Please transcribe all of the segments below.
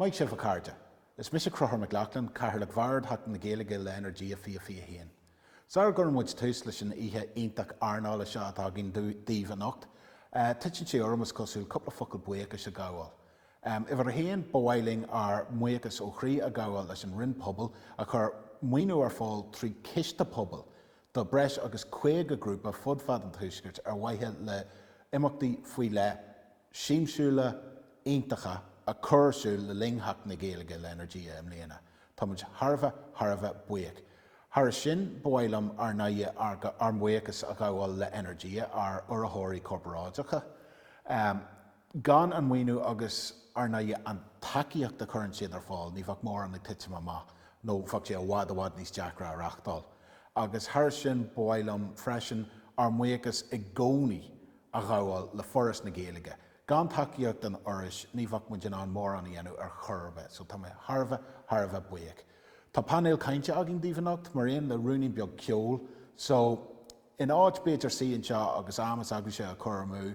Maith sibh, a chairde. Is mise Conchubhar Mac Lochlainn, Cathaoirleach Bhord Sheachtain na Gaeilge le Energia 2021. Sara gcuireann muid tús leis an oíche iontach airneála seo atá againn daoibh anocht. Titeann sé orm, is cosúil, cúpla focal buíochais a ghabháil. Uimhir a haon, ba mhaith linn ár mbuíochas ó chroí a ghabháil leis an Roinn Pobail a chuir maoiniú ar fáil trí Chiste Pobail do bhreis agus 50 grúpa fud fad an tuaiscirt ar mhaithe le imeachtaí faoi leith siamsiúla, iontacha a chur ar siúl le linn Sheachtain na Gaeilge le Energia i mbliana. Tá muid thar a bheith, thar a bheith buíoch. Thairis sin, ba mhaith liom, ar ndóighe, ár mbuíochas a ghabháil le Energia, ár urraitheoirí corparáideacha. Gan an maoiniú agus, ar ndóighe, an tacaíocht a chuireann siad ar fáil, ní bheadh mórán ag titim amach, nó bheadh sé i bhfad i bhfad níos deacra a reachtáil. Agus thairis sin, ba mhaith liom, freisin, ár mbuíochas i gcónaí a ghabháil le Foras na Gaeilge. Gan tacaíocht an Fhorais, ní bheadh muid in ann mórán a dhéanamh ar chor ar bith, so tá mé thar a bheith, thar a bheith buíoch. Tá painéal cainte againn daoibh anocht, mar aon le ruainnín beag ceoil, so in áit, b'fhéidir, suí anseo agus am s'agaibhse a chur amú,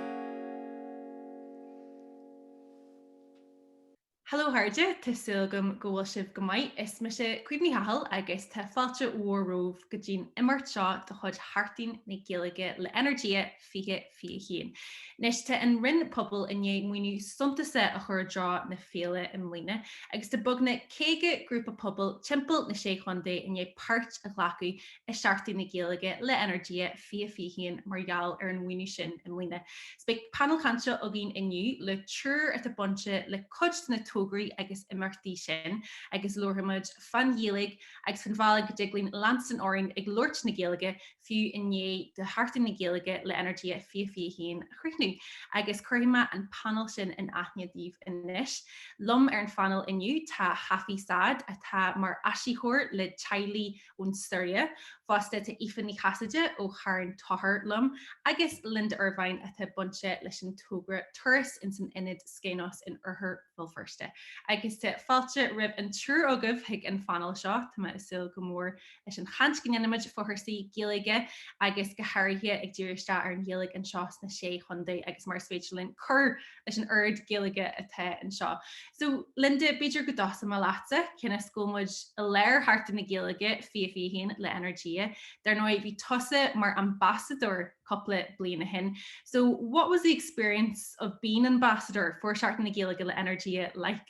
Hello a chairde, tá súil agam go bhfuil sibh go maith. Is mise Caoimhe Ní Chathail agus tá fáilte mhór romhaibh go dtí'n imeacht seo de chuid Sheachtain na Gaeilge le Energia 2021. Anois, tá an Roinn Pobal i ndiaidh maoiniú suntasach a chur i dtreo na féile i mbliana agus tá beagnach 50 grúpa pobail timpeall na Sé Chontae i ndiaidh páirt a ghlacadh i Seachtain na Gaeilge le Energia 2021 mar gheall ar an mhaoiniú sin i mbliana. 'S beidh painéal cainte againn inniu le triúr atá bainte le cuid de na tograí agus imeachtaí sin agus labharfaimid fán Ghaeilge agus fán bhealach go dtig linn leanstan orainn ag labhairt na Gaeilge fiú i ndiaidh do Sheachtain na Gaeilge le Energia 2021 a chríochnú. Agus cuirfidh mé an painéal sin in aithne daoibh anois. Liom ar an phainéal inniu tá Hafi Saad atá mar áisitheoir le teaghlaigh, ón tSiria fosta tá Aoife Ní Chasaide ó Charn Tóchair liom agus Linda Ervine atá bainte leis an togra Turas ins an Ionad Skainos in Oirthear Bhéal Feirste. Agus tá fáilte roimh an triúr agaibh chuig an phainéal seo. Tá mé ag súil go mór leis an chaint go ndéanfaimid fá chúrsaí Gaeilge agus go háirithe ag díriú isteach ar an Ghaeilge anseo sna Sé Chontae agus mar is féidir linn cur leis an oiread Gaeilge atá anseo. So, Linda, b'fhéidir go dtosóimid leatsa, cionn is go bhfuil muid i lár Sheachtain na Gaeilge 2021 le Energia. Dar ndóigh, bhí tusa mar ambasadóir cúpla bliain ó shin. So, what was the experience of being ambasadóir for Seachtain na Gaeilge le Energia like?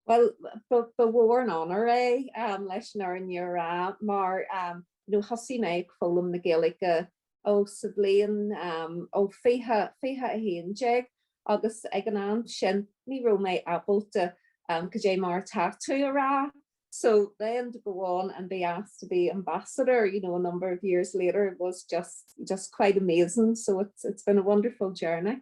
Bhuel, ba mhór an onóir é leis an fhírinne a rá mar thosaigh mé ag foghlaim na Gaeilge ó sa bhliain ó fiche, fiche a haon déag agus ag an am sin ní raibh mé ábalta cad é mar tá tú a rá. So then to go on and be asked to be ambassador, you know, a number of years later, it was just quite amazing, so it's, it's been a wonderful journey.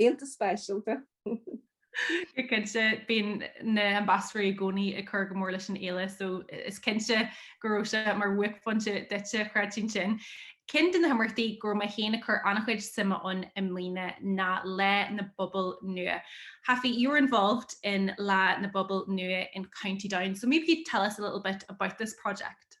Iontach speisialta. Go cinnte, bíonn na hambasadóirí i gcónaí ag cur go mór leis an fhéile so is cinnte go raibh sé mar bhuaicphointe duitse, chreidfinn sin. Ceann de na himeachtaí go raibh mé féin ag cur an-chuid suime ann i mbliana ná Lá na bPobal Nua. Hafi, you were involved in Lá na bPobal Nua in County Down so maybe you'd tell us a little bit about this project?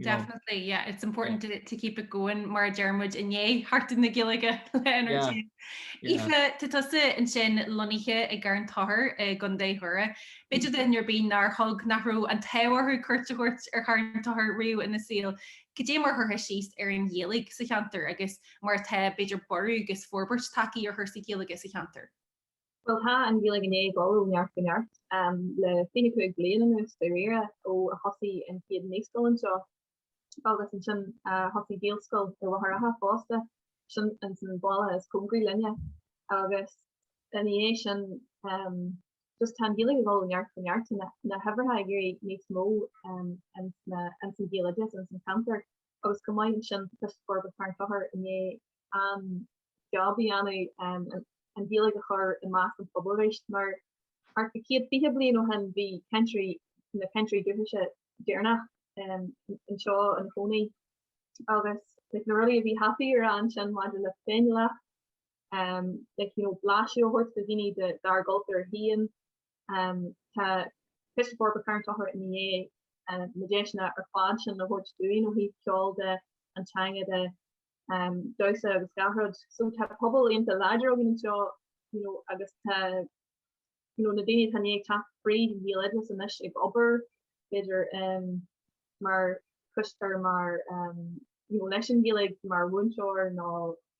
Definitely, yeah, it's important to, to keep it going mar a deirimid i ndiaidh Sheachtain na Gaeilge le Energia. Aoife, tá tusa ansin lonnaithe i gCarn Tóchair i gContae Dhoire. B'fhéidir do dhuine ar bith nár thug nach raibh an t-ádh orthu cuairt a thabhairt ar Charn Tóchair riamh ina saol, cad é mar a chuirfeá síos ar an Ghaeilge sa cheantar agus mar atá b'fhéidir borradh agus forbairt tagtha ar chúrsaí Gaeilge sa cheantar. Bhuel, tá an Ghaeilge i ndiaidh dul ó neart go neart le 25 bliain anuas dáiríre ó a thosaigh an chéad naíscoil anseo, agus ansin, thosaigh Gaelscoil i Machaire Rátha fosta, sin ins an bhaile is cóngaraí linne, agus ina dhiaidh sin, just tá an Ghaeilge ag dul ó neart go neart, tá na huimhreacha ag éirí níos mó ins an ghaeloideas, ins an cheantar, agus chomh maith leis sin tá Coiste Forbartha Charn Tóchair i ndiaidh an-jab a dhéanamh an Ghaeilge a chur i measc an phobail arís mar thart go 120 bliain ó shin bhí cainteoirí, na cainteoirí dúchais deireanach anseo ina chónaí agus like, na rudaí a bhí happaí ar an sin maidir le féiniúlacht um, like, you know, blaiseadh a thabhairt do dhaoine dár gcultúr féin Tá Coiste Forbartha Charn Tóchair i ndiaidh na deiseanna ar fad sin a thabhairt dúinn ó thaobh ceol de, an teanga de, damhsa agus gach rud. So tá pobal iontach láidir againn anseo you know agus tá you know na daoine atá i ndiaidh teacht fríd Ghaeloideachas anois ag obair b'fhéidir mar cois, mar you know leis an Ghaeilge mar mhúinteoir nó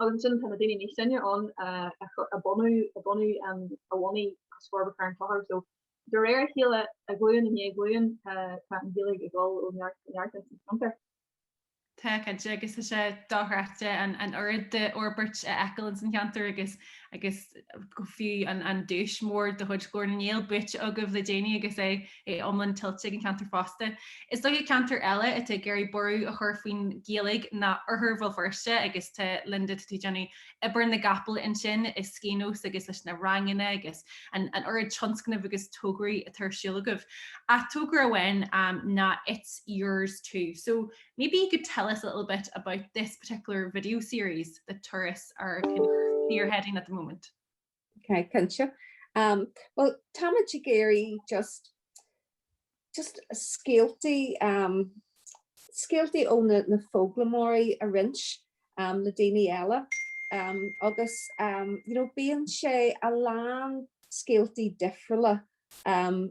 Agus ansin tá na daoine níos sine ann a bhunú a bhunaigh Coiste Forbartha Charn Tóchair. So de réir a chéile, glúin i ndiaidh glúin, tá an Ghaeilge ag dul ó neart go neart ins an cheantar. Tá, cinnte, agus tá sé dochreidte an oiread d'fhorbairt a fheiceáil ins an cheantar agus agus go fiú an duais mhór de chuid Ghlór na nGael buaite agaibh le déanaí agus é é iomlán tuillte ag an cheantar fosta. Is dócha ceantar eile atá ag iarraidh borradh a chur faoin Ghaeilge ná oirthear Bhéal Feirste agus tá Linda, tá tú ag déanamh obair na gcapall ansin i Skainos agus leis na ranganna agus an oiread tionscnamh agus tograí atá ar siúl agaibh. Ach togra amháin ná It's Yours Too so maybe you could tell us a little bit about this particular video series that Turas are kind of spearheading at the moment. Okay, cinnte. Um, well, táimid ag iarraidh just just scéaltaí um, scéaltaí ó na, na foghlaimeoirí a roinnt le daoine eile. Um, agus um, you know, bíonn sé a lán scéaltaí difriúla um,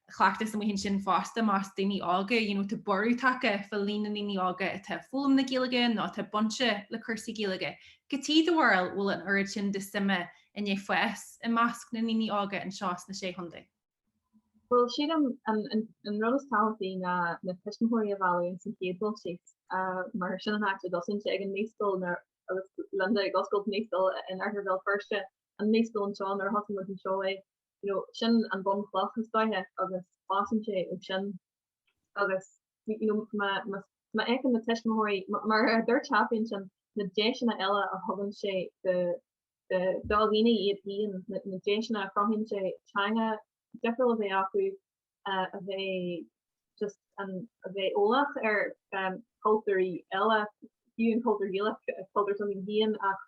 chleachtas amuigh ansin fosta i measc daoine óga, you know tá borradh tagtha fá líon na ndaoine óga atá ag foghlaim na Gaeilge nó atá bainteach le cúrsaí Gaeilge. Cad chuige, do bharúil, bhfuil an oiread sin de shuim i ndiaidh fás i measc na ndaoine óga anseo sna Sé Chontae? Bhuel, sílim an an an an rud is tábhachtaí ná na tuismitheoirí a mhealladh ins an chéad dul síos, mar sin an áit a dtosaíonn sé, ag an naíscoil nó agus Linda ag oscailt naíscoil in oirthear Bhéal Feirste, an naíscoil anseo, nuair a thosaigh muid anseo, Sin an bhunchloch, is dóiche, agus fásann sé ó sin. Agus má fheiceann na tuismitheoirí, mar a dúirt Seán ansin, na deiseanna eile a thugann sé do na daltaí iad féin, na deiseanna a chruthaíonn sé, teanga difriúil a bheith acu, a bheith eolach ar chultúirí eile, fiú an cultúr Gaelach, cultúr s'againn féin, ach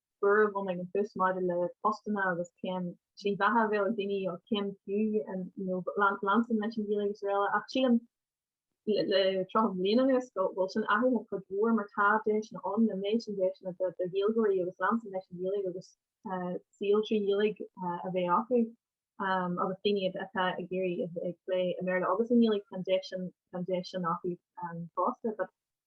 Cuireadh ionadh na fios maidir le postanna agus cén slí bheatha a bheadh ag daoine ó chéim fiú nó leanstan leis an Ghaeilge agus araile ach sílim le tríocha bliain anuas go bhfuil sin athraithe cuid mhór mar tá deiseanna ann an méid sin deiseanna do Ghaeilgeoirí agus leanstan leis an Ghaeilge agus saol trí Ghaeilge a bheith acu agus daoine atá ag iarraidh ag plé i mBéarla agus i nGaeilge tá an deis sin acu fosta.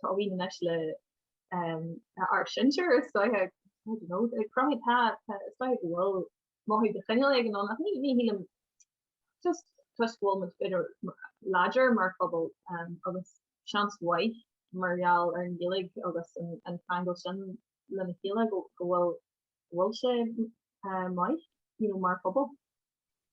tá mí na meisle ar sinsear is dóiche cromtha tá is dóiche go bhfuil mothú de chineál éigin ann ach ní shílim just toisc go bhfuil muid b'fhéidir láidir mar phobal agus seans mhaith mar gheall ar an nGaeilge agus an ceangal sin lena chéile go bhfuil bhfuil sé maith mar phobal.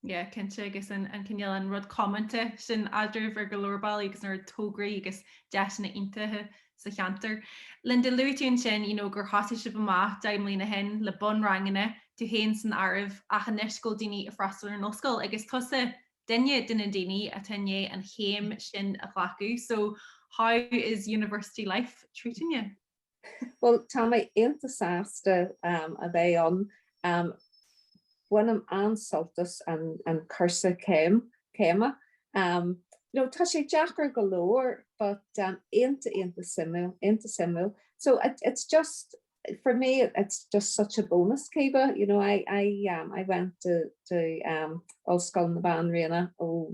Yeah, cinnte, agus an cineál an rud comónta sin eadraibh ar go leor bealaí agus an oiread tograí agus deiseanna iontacha sa cheantar. Linda, luaigh tú ansin, you know, gur thosaigh sibh amach deich mbliana ó shin le bunranganna, tú féin san áireamh, ach anois go bhfuil daoine ag freastal ar an ollscoil agus tusa duine de na daoine atá i ndiaidh an chéim sin a ghlacadh, so how is university life treating you? Bhuel, tá mé iontach sásta a bheith ann. Bainim an-sult as an cúrsa céime. Tá sé deacair go leor but iontach, iontach suimiúil, iontach suimiúil. So it's just, for me it's just such a bonus cibé, you know, I went to Ollscoil na Banríona ó,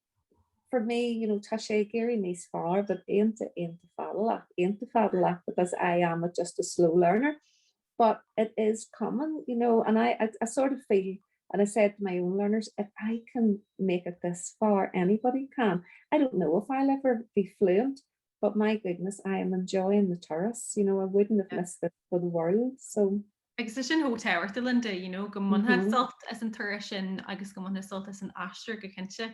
for me, you know, tá sé ag éirí níos fearr, but aonta, aonta fadalach, aonta fadalach, because I am a just a slow learner, but it is common, you know, and I, I, I sort of feel, and I say it to my own learners, if I can make it this far, anybody can. I don't know if I'll ever be fluent, but my goodness, I am enjoying the turas, you know, I wouldn't have missed this for the world, so. agus é sin chomh tábhachtúil le ndo, you know, go mbainfeá sult as an turas sin agus go mbainfeá sult as an aistear go cinnte.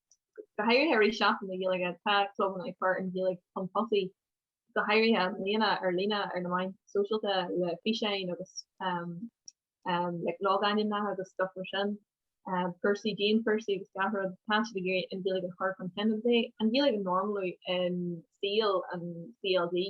Go háirithe i rith Seachtain na Gaeilge, tá clubanna ag cur an Ghaeilge chun tosaigh, go háirithe i mbliana ar líne ar na meáin shóisialta le físeáin agus like logainmneacha agus stuff mar sin, cúrsaí, dianchúrsaí agus gach rud, tá siad ag iarraidh an Ghaeilge a chur chun cinn agus é an Ghaeilge a normalú i saol an CLG.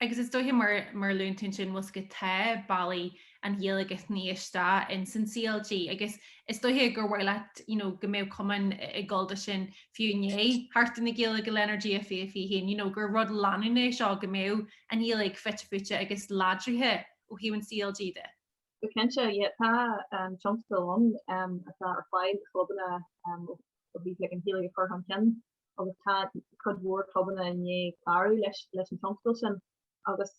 Agus is dóiche, mar a luann tú ansin, má's go dtéann bealaí an Ghaeilge is níos mó ins an CLG agus is dóiche gur mhaith leat, you know, go mbeadh cumann ag gabháil de sin fiú i ndiaidh Sheachtain na Gaeilge le Energia fiche fiche haon, you know, gur rud leanúnach é seo go mbeadh an Ghaeilge fite fuaite agus láidrithe ó thaobh an CLG de. Go cinnte, yeah, tá an tionscadal ann atá ar fáil do chlubanna ó thaobh, like, an Ghaeilge a chur chun cinn. agus tá cuid mhór clubanna i ndiaidh clárú leis leis an tionscadal sin agus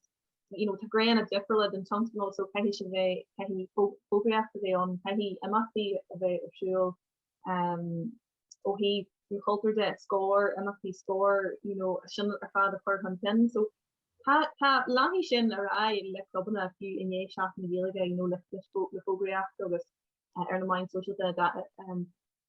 you know, tá grádanna difriúla den tionscadal so caithfidh sé bheith caithfidh fógraíocht a bheith ann, caithfidh imeachtaí a bheith ar siúl um, ó thaobh an chultúr de, Scór, imeachtaí Scór, you know, sin ar fad a chur chun cinn. So tá tá leanfaidh sin ar aghaidh le clubanna fiú i ndiaidh Seachtain na Gaeilge, you know, le le fó- le fógraíocht agus uh, ar na meáin shóisialta a da- um,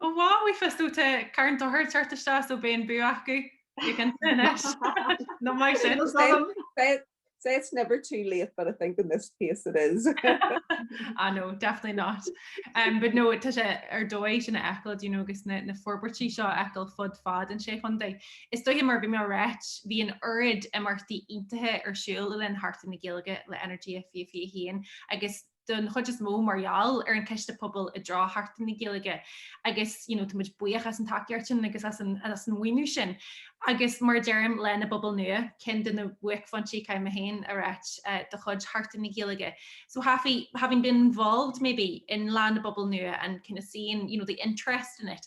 Oh wow bhuailfeas tú te, car an dochar teart isteach so beidh an bua acu, bí ag insint anois. No maith sin. Well, they say it's never too late but I think in this case it is. Ah no, definitely not. Um, but no, tá sé ar dóigh sin a fheiceáil, do you know, agus na, na forbairtí seo a fheiceáil fud fad na sé chontae. Is dóiche mar a bhí mé a ráit, bhí an oiread imeachtaí iontacha ar siúl le linn Sheachtain na Gaeilge le Energia 2021 agus don chuid is mó mar gheall ar an Ciste Pobail i dtreo Sheachtain na Gaeilge agus you know tá muid buíoch as an tacaíocht sin agus as an, as an mhaoiniú sin. Agus mar deirim le Lá na bPobal Nua, ceann de na buaicphointí, caithfidh mé féin a ráit uh, de chuid Sheachtain na Gaeilge. So having, having been involved maybe in Lá na bPobal Nua and kind of seeing you know, the interest in it,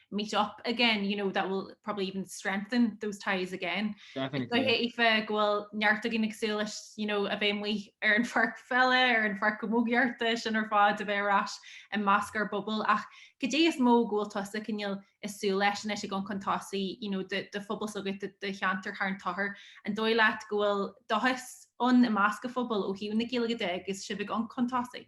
meet up again, you know, that will probably even strengthen those ties again. Definitely. Aoife go bhfuil neart againn ag súil leis, you know, a bheith amuigh ar an pháirc pheile, ar an pháirc chamógaíochta sin ar fád a bheith ar ais i measc ár bpobal. Ach cad é is mó go bhfuil tusa, cineál, ag súil leis anois ag dul chun tosaigh, you know, do, do phobal s'agat, do, do cheantar Charn Tóchair, an dóigh leat go bhfuil dóchas ann i measc a phobail ó thaobh na Gaeilge de agus sibh ag dul chun tosaigh?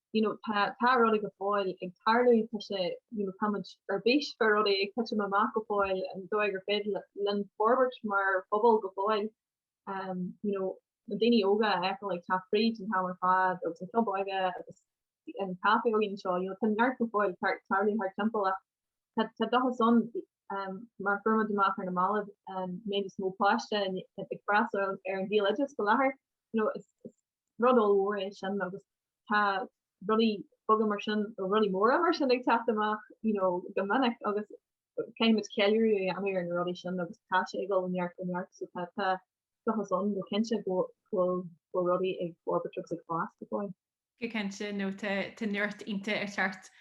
you know tá tá rudaí go fóill ag tarlú tá sé you know táid ar bís fé rudaí ag titim amach go fóill an dóigh gur féidir linn forbairt mar phobal go fóill um, you know na daoine óga a fheiceáil ag teacht fríd an t-am ar fad agus an club óige agus an caifé óige seo you know tá neart go fóill tarlú thar timpeall ach tá dóchas ann um, mar Feirm Droim nDamh, Machaire na Mallacht um, maybe níos mó páiste ag freastal ar an Ghaeloideachas faoi láthair you know, is, is rud ollmhór é sin agus tá rudaí beaga mar sin, nó rudaí móra mar sin ag teacht amach, you know, go minic agus caithfimid ceiliúradh a dhéanamh ar na rudaí sin agus tá sé ag dul ó neart go neart, so tá, tá dóchas ann go cinnte go bhfuil, go bhfuil rudaí ag forbairt agus ag fás go fóill. Go cinnte, nó tá, tá neart ionta ar cheart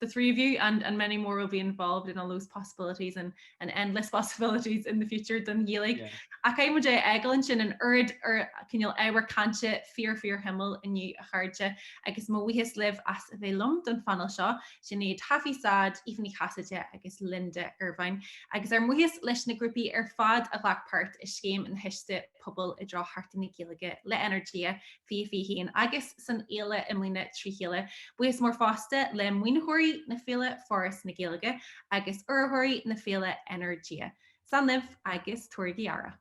the three of you and and many more will be involved in all those possibilities and and endless possibilities in the future don Ghaeilge. Yeah. Ach caithfidh muid é a fhágáil ansin an oiread cineál ábhar cainte fíor fíor shuimiúil inniu, a chairde, agus mo bhuíochas libh as a bheith liom don phainéal seo, Sinéad Haffey Sayee, Aoife Ní Chasaide agus Linda Ervine, agus ár mbuíochas leis na grúpaí ar fad a ghlac páirt i scéim na gcistí, pobail i dtreo Sheachtain na Gaeilge le Energia fiche fiche haon agus san fhéile i mbliana trí chéile. Buíochas mór fosta le maoinitheoirí na féile, Foras na Gaeilge, agus urraitheoirí na féile, Energia. Slán libh agus tabhairigí aire!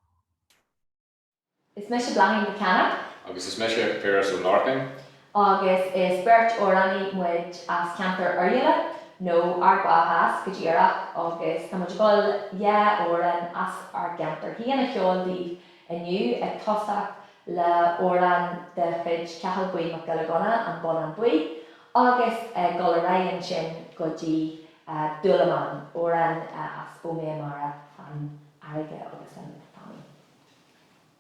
Is mise Bláithín Mhic Cana. Agus is mise Piaras Ó Lorcáin. agus is beirt amhránaí muid as ceantar Oirialla, nó Ard Mhacha Theas go díreach, agus tá muid ag dul dhá amhrán as ár gceantar féin a cheol daoibh inniu, ag tosacht le hamhrán de chuid Chathal Buí Mac Giolla Ghunna, An Bonnán Buí, agus ag dul ar aghaidh ansin go dtí Dúlamán, amhrán as Ó Méith Mara, An Fharraige agus an Táin.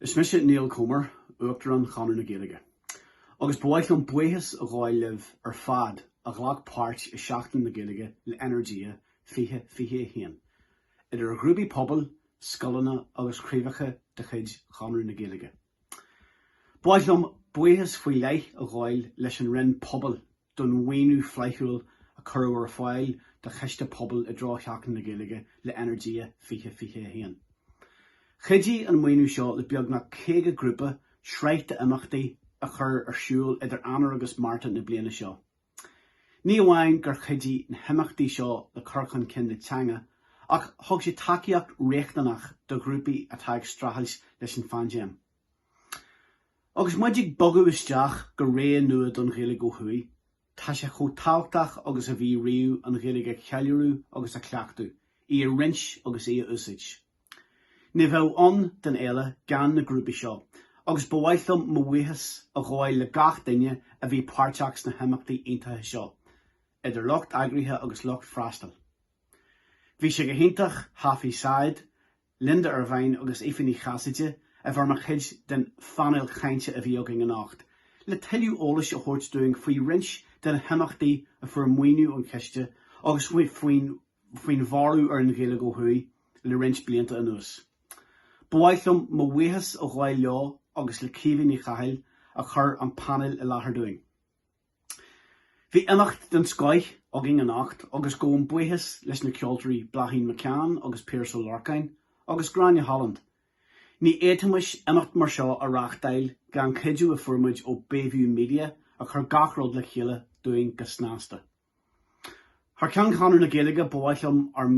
Is mise Niall Comer, Uachtarán Chonradh na Gaeilge, agus ba mhaith liom buíochas a ghabháil libh ar fad a ghlac páirt i Seachtain na Gaeilge le Energia 2021, idir ghrúpaí pobail, scoileanna agus craobhacha de chuid Chonradh na Gaeilge. Ba mhaith liom buíochas faoi leith a ghabháil leis an Roinn Pobail, don mhaoiniú flaithiúil a cuireadh ar fáil do chiste pobail i dtreo Sheachtain na Gaeilge le Energia 2021. Chuidigh an maoiniú seo le beagnach 50 grúpa sraith d'imeachtaí a chur ar siúl idir Eanáir agus Márta na bliana seo. Ní amháin gur chuidigh na himeachtaí seo le cur chun cinn na teanga ach thug sé tacaíocht riachtanach do ghrúpaí atá ag streachailt leis an phaindéim. Agus muid ag bogadh isteach go ré nua don Ghaeilge ó thuaidh, tá sé chomh tábhachtach agus a bhí riamh an Ghaeilge a cheiliúradh agus a chleachtadh, í a roinnt agus í a úsáid. Ní bheadh ann don fhéile gan na grúpaí seo, agus ba mhaith liom mo bhuíochas a ghabháil le gach duine a bhí páirteach sna himeachtaí iontacha seo, idir lucht eagraithe agus lucht freastail. Bhí sé go hiontach Hafy Said, Linda Ervine agus Aoife Ní Chasaide a bheith mar chuid den phainéal cainte a bhí againn anocht, le tuilleadh eolais a thabhairt dúinn faoi roinnt de na himeachtaí a fuair maoiniú ón chiste agus faoin bhorradh ar an Ghaeilge ó thuaidh le roinnt blianta anuas. Ba mhaith liom mo bhuíochas a ghabháil leo agus le Caoimhe Ní Chathail a chuir an painéal i láthair dúinn. Bhí imeacht den scoith againn anocht agus gabhaim buíochas leis na ceoltóirí Bláithín Mhic Cana agus Piaras Ó Lorcáin agus Gráinne Holland. Ní fhéadfaimis imeacht mar seo a reáchtáil gan an chuidiú a fuair muid ó Bayview Media a chuir gach rud le chéile dúinn go snasta. Thar ceann Chonradh na Gaeilge, ba mhaith liom ár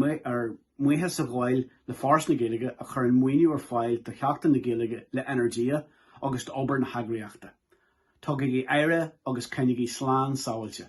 mbuíochas a ghabháil le Foras na Gaeilge a chuireann maoiniú ar fáil do Sheachtain na Gaeilge le Energia agus d'obair na heagraíochta. Tugaigí aire agus coinnigí slán sábháilte.